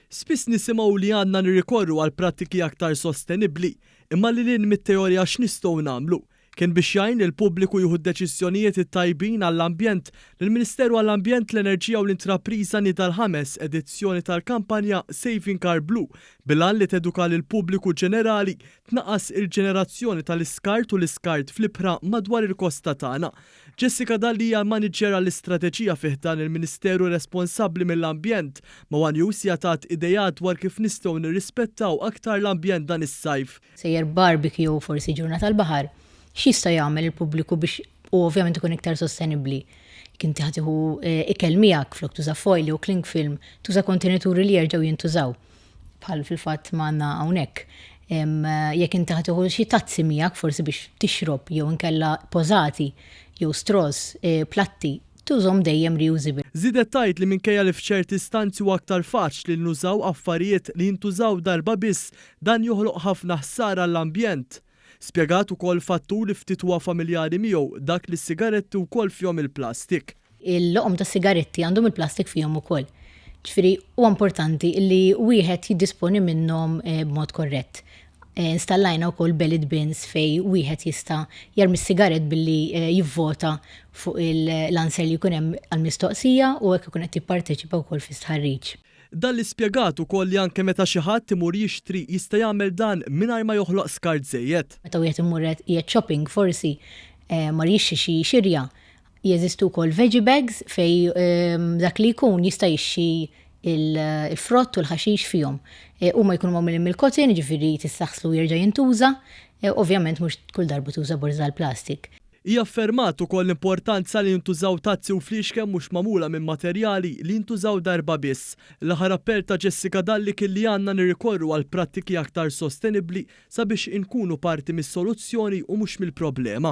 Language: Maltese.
Spiss nisimgħu li għandna nirrikorru għal prattiki aktar sostenibbli, imma lil hinn mit-teorija x'nistgħu nagħmlu? Kien biex jgħin lill-pubbliku jieħu d-deċiżjonijiet it-tajbin għall-ambjent li l-Ministeru għall-Ambjent, l-Enerġija u l-Intrapriża nieda l-ħames edizzjoni tal-kampanja Saving Our Blue bil-għan li teduka lill-pubbliku ġenerali tnaqqas il-ġenerazzjoni tal-iskart u l-iskart fl-ibħra madwar il-kosta tagħna. Jessica Dalli hija l-Maniġġer għall-Istrateġija fi ħdan il-Ministeru responsabbli mill-Ambjent. Ma' one News hija tat ideat dwar kif nistgħu nirrispettaw aktar l-ambjent dan is-sajf. Sejjer barbecue jew forsi ġurnata tal-baħar, x'jista' jagħmel il-pubbliku biex u ovvjament ikun iktar sostenibbli? Jekk inti ħa tieħu ikel miegħek, flok tuża foil jew cling film, tuża kontenituri li jerġgħu jintużaw. bħal fil-fatt ma għandna hawnhekk, jekk inti ħa tieħu xi tazzi miegħek forsi biex tixrob jew inkella pożati jew straws, platti, tużhom dejjem reusable. Żiedet tgħid li minkejja li f'ċerti stanzi huwa aktar faċli li nużaw affarijiet li jintużaw darba biss, dan joħloq ħafna ħsara għall-ambjent. Spjegat ukoll fattur li ftit huwa familjari miegħu, dak li s-sigaretti wkoll fihom il-plastik. Il-loqom tas-sigaretti għandhom il-plastik fihom ukoll. Ġifieri huwa importanti li wieħed jiddisponi minnhom b'mod korrett. Installajna wkoll bellied bins fejn wieħed jista' jermi s-sigarett billi jivvota fuq l-answer li jkun hemm għall-mistoqsija u hekk ikun qed jipparteċipa wkoll fi stħarriġ. Dalli spjegat ukoll li anke meta xi ħadd imur jixtri jista' jagħmel dan mingħajr ma joħloq skart żejjed. Meta wieħed imur qiegħed shopping forsi mar jixtri xi xirja, jeżistu wkoll veggie bags fejn dak li jkun jista' jixtri l-frott u l-ħaxix fihom. Huma jkunu magħmulin mill-cotton jiġifieri tista' ħslu u jerġa' jintuża. Ovvjament mhux kull darba tuża borża għall-plastik. Hi affermat ukoll l-importanza li jintużaw tazzi u fliexken mhux magħmula minn materjali li jintużaw darba biss. L-aħħar appell ta' Jessica Dalli kien li għandna nirrikorru għal prattiki aktar sostenibbli sabiex inkunu parti mis-soluzzjoni u mhux mill-problema.